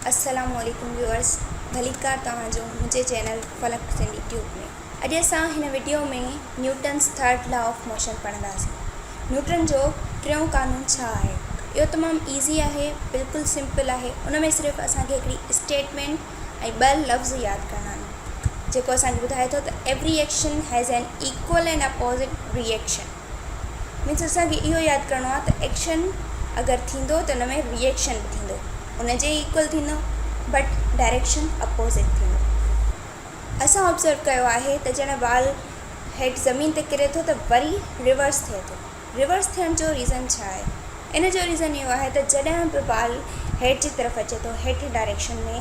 السلام عليڪم ويوئرس ڀليڪار توهان جو منهنجي چينل فلڪ سنڌي ٽيوب ۾ اڄ اسان هن video ۾ Newton's third law of motion پڙهنداسين نيوٽن جو ٽيون قانون ڇا آهي اهو تمام ايزي آهي بلڪل سمپل آهي ان ۾ صرف اسان کي هڪڙي اسٽيٽمينٽ ۽ ٻه لفظ ياد ڪرڻا آهن جيڪو اسان کي ٻڌائي ٿو ته every action has an equal and opposite reaction means اسان کي اهو ياد ڪرڻو آهي ته ايڪشن اگر ٿيندو ته ان ۾ ري ايڪشن به ٿيندو ان جي ايڪول ٿيندو بٽ ڊائريڪشن اپوزٽ ٿيندو اسان آبزرو ڪيو آهي ته جڏهن بال هيٺ زمين تي ڪري ٿو ته وري ريورس ٿئي ٿو ريورس ٿيڻ جو ريزن ڇا آهي ان جو ريزن اهو آهي ته جڏهن به بال هيٺ جي طرف اچي ٿو هيٺ ڊائريڪشن ۾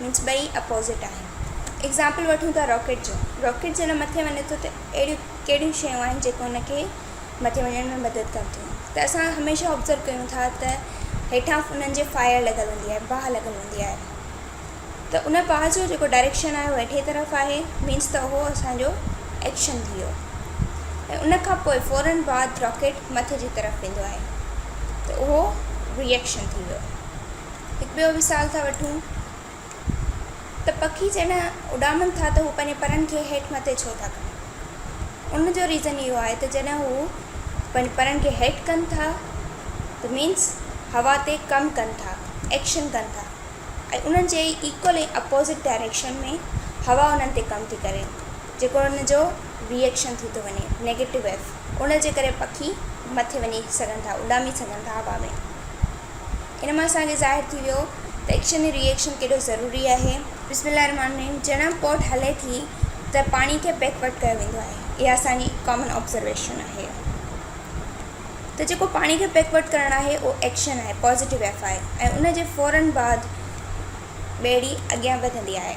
مينس ٻئي اپوزٽ آهن. ايگزامپل وٺون ٿا راڪيٽ جو، راڪيٽ جڏهن مٿي وڃي ٿو ته اهڙيون ڪهڙيون شيون آهن جيڪو ان کي مٿي وڃڻ ۾ مدد ڪن ٿيون ته اسان هميشه آبزرو ڪيون ٿا ته هيٺان انهن جي فائر لڳل هوندي آهي باهه لڳل هوندي آهي ته ان باهه جو جيڪو ڊائريڪشن آهي اهو هيٺئين طرف آهي مينس ته اهو اسانجو ايڪشن ٿي ويو ۽ ان کان پوء فورن بعد راڪيٽ مٿي جي طرف ويندو آهي ته اهو ري ايڪشن ٿي ويو. هڪ ٻيو مثال ٿا وٺون ته پکي جڏهن اڏامن ٿا ته هو پنهنجي پرن کي هيٺ مٿي ڇو ٿا ڪن ان جو ريزن اهو آهي ته جڏهن هو پنهنجي پرن کي هيٺ ڪن ٿا ته مينس هوا تي ڪم ڪن ٿا ايڪشن ڪن ٿا ۽ انهن جي ايڪول ۽ اپوزٽ ڊائريڪشن ۾ هوا انهن تي ڪم ٿي ڪري جيڪو ان جو ريئڪشن ٿي ٿو وڃي نيگيٽو ويف ان جي ڪري پکي مٿي وڃي سگهن ٿا اڏامي سگهن ٿا هوا ۾ ان مان اسان کي ظاهر ٿي ويو ته ايڪشن ۽ ري ايڪشن ڪيڏو ضروري آهي. بسم الله الرحمٰن الرحيم جڏهن بوٽ هلي ٿي ته پاڻي کي بيڪ ورڊ ڪيو ويندو آهي اها اسان جي ڪامن آبزرويشن آهي ته جيڪو پاڻي کي بيڪ ورڊ ڪرڻ آهي اهو ايڪشن آهي پازيٽو ايف آهي ۽ ان جي فورن بعد ٻيڙي اڳيان وڌندي آهي